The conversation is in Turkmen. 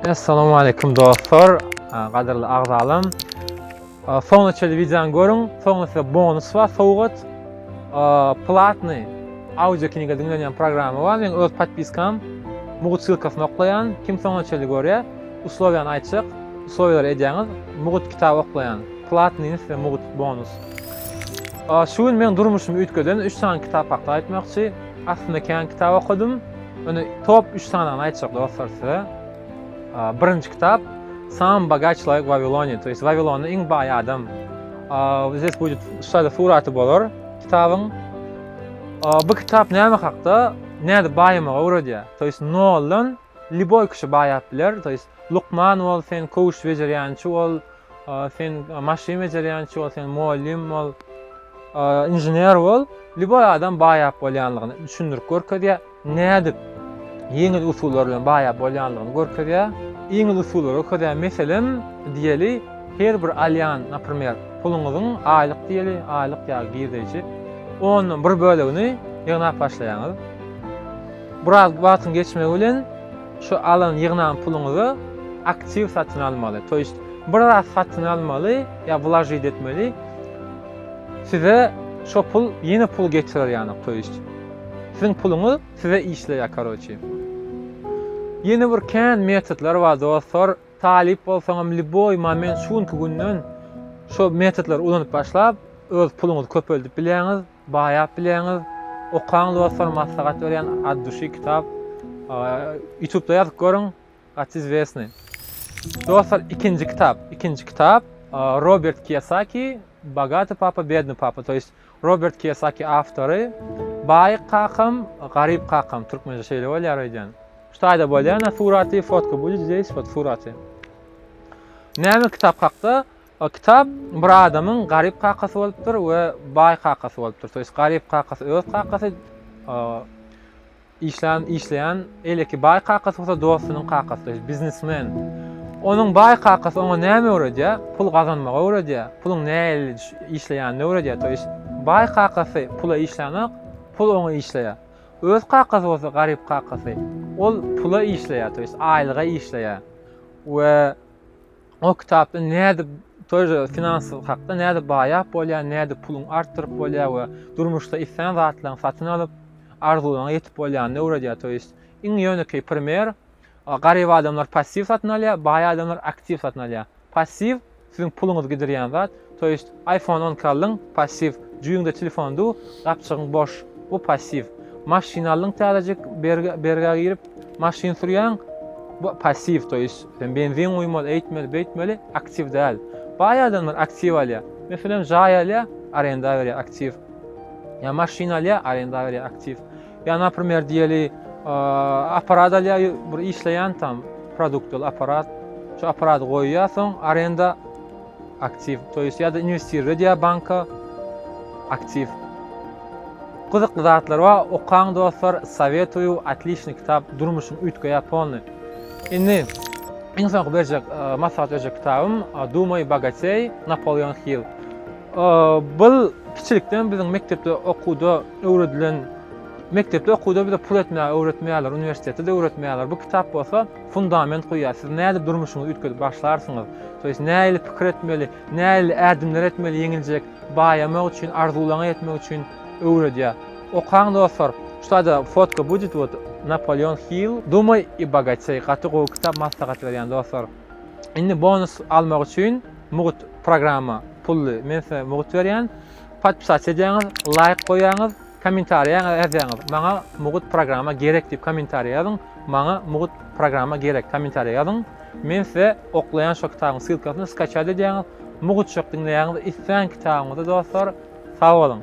Assalamu aleykum dostlar, gadyrly agzalam. Soňuna çeli videony görüň, soňuna size bonus bar, sowgat. Platny audio kniga diňlenýän programma bar, men öz podpiskam mugut sylkasyny oklaýan, kim soňuna çeli görýä, uslowiýany aýtjak, uslowiýalary edýäňiz, mugut kitab oklaýan, platnyny size mugut bonus. Şu gün men durmuşymy üýtgeden 3 sany kitap hakda aýtmakçy. Aslynda kän kitap okadym. Öne top 3 sanagyny aýtjak dostlar size. Birinji kitap Sam bagaç laýyk Wawilonya, to ýest Wawilonda iň baý adam. Bizes bu şada suraty bolar kitabyň. Bu kitap näme hakda? Näde baýamagy öwredýär. To ýest noldan liboý kişi baýap biler, to ýest lukman bol, sen köwüş bejerýänçi bol, Sen maşyn bejerýänçi bol, sen mugallym bol, inžener bol. Lýuboý adam baýap bolýanlygyny düşündirip görkezýär. Nädip ýeňil usullar bilen baýap bolýanlygyny görkezýär. Ýeňil usullary görkezýär. Meselem, diýeli, her bir alýan, naprimer, puluňyzyň aýlyk diýeli, aýlyk ýa girdeji ondan bir bölegini ýygnap başlaýaňyz. Biraz wagtyň geçmegi bilen Şu alan ýygnan puluňyzy aktiw satyn almaly, to ýest bir zat satyn almaly ýa wlažit etmeli, size şo pul ýene pul getirer ýanyk, to ýest siziň puluňyz size işleýär karoçi. Ýene bir kän metodlar bar dostlar, talyp bolsaňam liboý moment şu günki günden şo metodlary ulanyp başlap öz puluňyzy köpeldip bilýäňiz. Baýap bileňiz. Okaň dostlar maslahat berýän at duşi kitap. Ýutubda ýazyp görüň. Gaty izwesny. Dostlar ikinji kitap. Ikinji kitap. Robert Kiyosaki Bagaty papa bedny papa. To ýest Robert Kiyosaki awtory. Baý kakam, garyp kakam. Türkmençe şeýle bolýar öýdýän. Şu taýda bolýar na suraty fotka. Bu jüzde hiç fot suraty. Näme kitap hakda? A kitap bir adamyň garyp kakasy bolupdyr we baý kakasy bolupdyr. Toýs garyp kakasy öz kakasy işlän işleýän eleki baý kakasy bolsa dostunyň kakasy, toýs biznesmen. Onuň baý kakasy oňa näme öwredýär? Pul gazanmagy öwredýär. Puluň nähili işleýänini öwredýär. Toýs baý kakasy pula işlänok, pul oňa işleýär. Öz kakasy bolsa garyp kakasy ol pula işleýär, toýs aýlyga işleýär. We O kitapda nädip toýra finansyz hakda nädip baýap bolýar, nädip puluň artdyryp bolýar we durmuşda islän zatlaryň satyn alyp, arzuwlaryňa ýetip bolýanyny öwredýär. To ýest iň ýönekeý primer garyp adamlar passiw satyn alýar, baý adamlar aktiw satyn alýar. Passiw siziň puluňyzy gidirýän zat, To ýest iPhone on iki aldyň, passiw, jüýüňde telefon du, gapjygyň boş, bu passiw. Maşyn aldyň täzejik, bergä girip, maşyn sürýäň, bu passiw, to ýest, sen benzin guýmaly, eýtmeli, beýtmeli, aktiw däl. Baý adamlar aktiw alýar. Meselem, jaý alýar, arenda berýär, aktiw. Ýa maşyn alýar, arenda berýär, aktiw. Ýa naprimer diýeli aparat alýa bir işleýän tam produktyl aparat. Şu aparat goýýa soň arenda aktiw. To ýest ýa-da inwestirle diýä banka aktiw. Gyzykly zatlar bar. Okaň dostlar, sowetuýu, otlişny kitap, durmuşyň üýtgeýä polny. Indi iň soňky berjek maslahat berjek kitabym Dumay bogatey, Napoleon Hill. Bul kiçilikden biziň mekdepde okuwda öwredilen Mekdepde okuwda bize pul etmäge öwretmeýärler, uniwersitetde-de öwretmeýärler. Bu kitap bolsa fundament goýýar. Siz nädip durmuşyňyzy üýtgedip başlarsyňyz? To ýes nähili pikir etmeli, nähili ädimler etmeli ýeňiljek, baýamak üçin, arzuwlaryňa ýetmek üçin öwredýär. Okaň dostlar. Şutada fotka budit wot Napoleon Hill Dumay i bogatey gaty gowy kitap maslahat berýän dostlar. Indi bonus almak üçin mugt programma pully. Men size mugt berýän. Podpisat edýäňiz, laýk goýýaňyz, kommentariýaňyz ýazýaňyz, maňa mugut programma gerek diýip kommentariýa ýazyň, maňa mugut programma gerek kommentariýa ýazyň, men size oklaýan şo kitabyň sylkasyny skaçat edýäňiz, mugutjak diňleýäňiz islän kitabyňyzy dostlar, sag boluň.